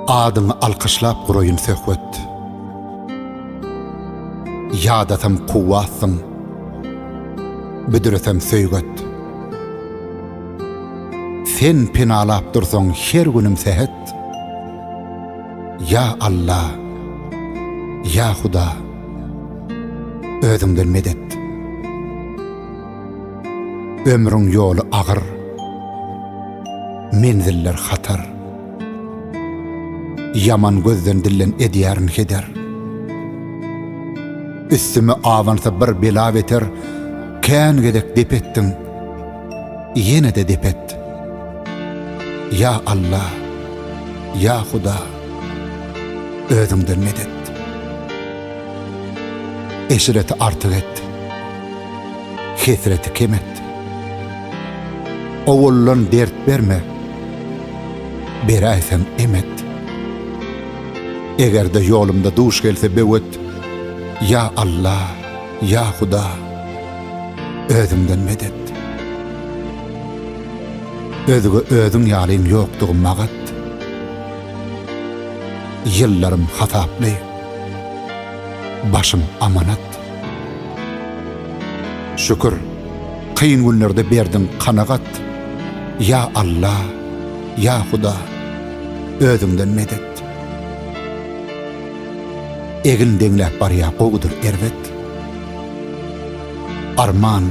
Adyňy alkyşlap guraýyn söhbet. Ýadatam kuwwatsyň. Büdretem söýget. Sen penalap dursaň her günüm sähet. Ýa Alla, ýa Huda. özüňden medet. Ömrüň ýoly agyr, menziller hatar. Ýaman gözden dillen edýärin heder. Üstüme abansa bir bela beter, kän gezek dep etdim. Ýene-de dep et. Ýa Allah, ýa Hudaý. Özüňden medet. Eşreti artyk et. Hesreti kem et. Owallan dert berme. Beräýsem emet. Eger-de ýolumda duş gelse böwet, ýa Alla, ýa Huda, özüňden medet. Özge özüň ýalyň ýokdugy magat. Ýyllarym hasaply, başym amanat. Şükür, kyn günlerde berdiň kanagat. Ýa Alla, ýa Huda, özüňden medet. Egin deňläp barýa gowudyr erbet. Arman,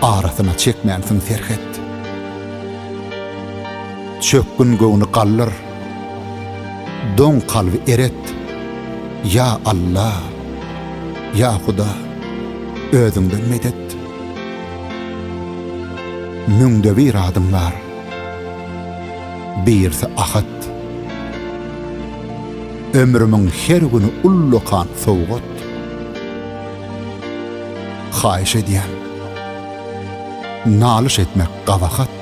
arasyna çekmänsiň serhet. Çökgün göwni galdyr, doň kalby eret, Ýa Alla, ýa Huda, Özüňden medet. Müňde bir adyň bar, birisi Ahad. Ömrümiň her güni ullakan sowgat. Haýyş edýän, nalyş etmek gabahat.